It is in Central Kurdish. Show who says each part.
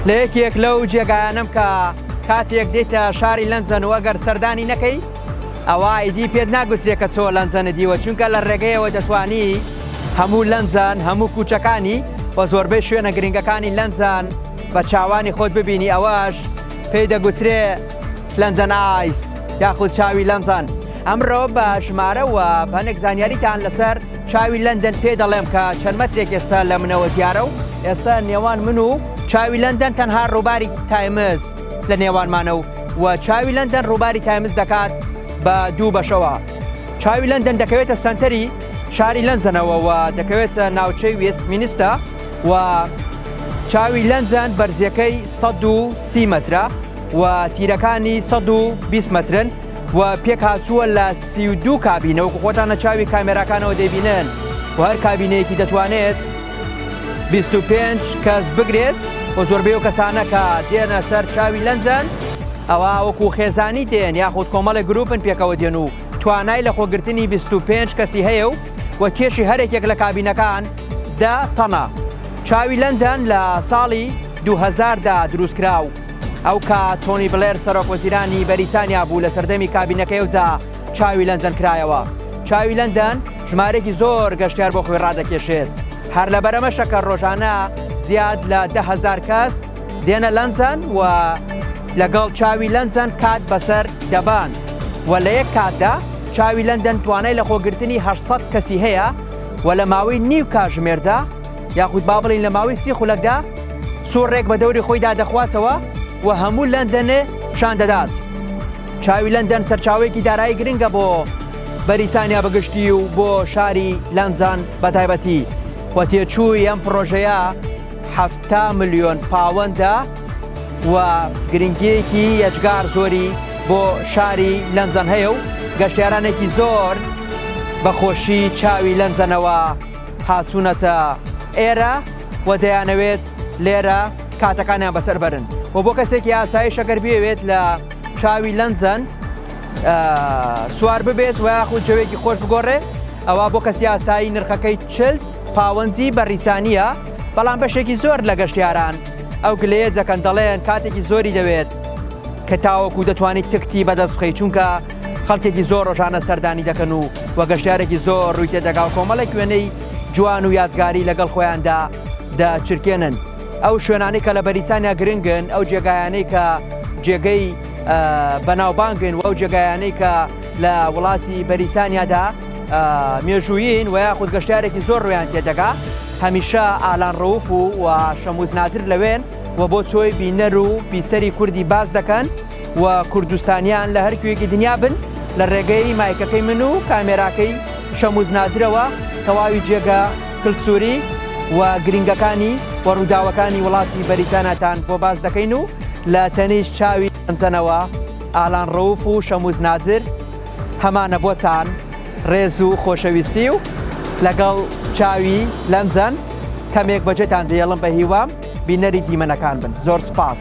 Speaker 1: لە یەکێک لەو جێگایانم کە کاتێک دێتە شاری لەنجەن و ئەگەر سەردانی نەکەی ئەوە ئایدی پێت ناگوترێت کە چۆ لەنجەنە دیوە چونکە لە ڕێگەیەوە دەتوانی هەموو لەنجان هەموو کوچەکانی و زۆربەی شوێنە گرنگەکانی لەنجان بە چاوانی خۆت ببینی ئەوەش پێی دەگوترێ لەنجەن ئایس یاخود چاوی لەنجان ئەمڕۆ بە ژمارە و هەنێک زانیاریتان لەسەر چاوی لەندەن پێ دەڵێم کە چەند مەترێک ئێستا لە منەوە زیارە و ئێستا نێوان من و چاوی لەندەن تەنها ڕووباری تایمز لە نێوانمانە و و چاوی لەندەن ڕووباری تایمز دەکات بە دوو بەشەوە چاوی لەندەن دەکەوێتە سنتەری شاری لەنجەنەوە و دەکەوێتە ناوچەی وێست مینیستا و چاوی لەنجەن بەرزیەکەی 130 مەترە و تیرەکانی 120 مەترن و پێک هاتووە لە سی و دوو کابینە وەکو خۆتان لە چاوی کامێراکانەوە دەیبینن و هەر کابینەیەکی دەتوانێت 25 کەس بگرێت و زۆربەی و کەسانەکە دێنە سەر چاوی لەنجەن ئەوە وەکو خێزانی دێن یاخود کۆمەڵی گروپن پێکەوە دێن و توانای لە خۆگرتنی 25 کەسی هەیە و و کێشی هەرێکێک لە کابینەکان دە تەنە چاوی لەندەن لە ساڵی 2010دا دروستکرا و ئەوکات تۆنی بلێر سەرۆک وەزیرانی بەریتانیا بوو لە سەردەمی کابینەکەی ئەوجا چاوی لەندەن کرایەوە چاوی لەندەن ژمارێکی زۆر گەشتیار بۆ خۆی ڕادەکێشێت هەر لە بەرەمەشەکە ڕۆژانە زیاد لە ده هزار کەس دێنە لەندەن و لەگەڵ چاوی لەندەن کات بەسەر دەبان و لە یەک کاتدا چاوی لەندەن توانای لە خۆگرتنی 600 کەسی هەیە و لە ماوەی نیو کاژمێردا یاخود با بڵێین لە ماوەی سی خولەکدا سوڕێک بە دەوری خۆیدا دەخواتەوە و هەموو لەندەنێ پیشان دەدات. چاوی لەندەن سەرچاوەیەکی دارایی گرنگە بۆ بەریتانیا بەگشتی و بۆ شاری لەندەن بە تایبەتی و تێچووی ئەم پڕۆژەیە هەفتا ملیۆن پاوەندە و گرنگیەکی یەجگار زۆری بۆ شاری لەندەن هەیە و گەشتیارانێکی زۆر بەخۆشی چاوی لەندەنەوە هاتوونەتە ئێرە و دەیانەوێت لێرە کاتەکانیان بەسەر بەرن و بۆ کەسێکی ئاسایی شەکەر بێوێت لە چاوی لەندەن سوار ببێت و یاخود جەوێکی خۆش بگۆڕێ ئەوە بۆ کەسی ئاسایی نرخەکەی چلد پاوەندی بەریتانیە بەڵام بەشێکی زۆر لە گەشتیاران ئەو گلەیە دەکەن دەڵێن کاتێکی زۆری دەوێت کە تاوەکو دەتوانیت تکتی بەدەست بخەی چونکە خەڵکێکی زۆر ڕۆژانە سەردانی دەکەن و وە گەشتارێکی زۆر ڕووی تێدەگا و کۆمەڵێک وێنەی جوان و یادگاری لەگەڵ خۆیاندا دەچرکێنن ئەو شوێنانی کە لە بەریتانیا گرنگن ئەو جێگایانەی کە جێگەی بەناوبانگن و ئەو جێگایانەی کە لە وڵاتی بەریتانیادا مێژوویین و یاخود گەشتارێکی زۆر ڕویان تێدەگا هەمیشە ئالان ڕوف و و شەموز نادر لەوێن و بۆ چۆی بینەر و پیسەری کوردی باز دەکەن و کوردستانیان لە هەر کوێکی دنیا بن لە ڕێگەی مایکەکەی من و کامێراکەی شەموز نادرەوە تەواوی جێگە کلسوری و گرنگەکانی و ڕووداوەکانی وڵاتی بەریتاناتان بۆ باز دەکەین و لە تەنیش چاوی ئەنجەنەوە ئالان ڕوف و شەموز نادر هەمانە بۆتان ڕێز و خۆشەویستی و لەگەڵ چاوی لەنجەن کەمێک بەجێتان دێڵم بە هیوام بینەری دیمەنەکان بن زۆر سپاس.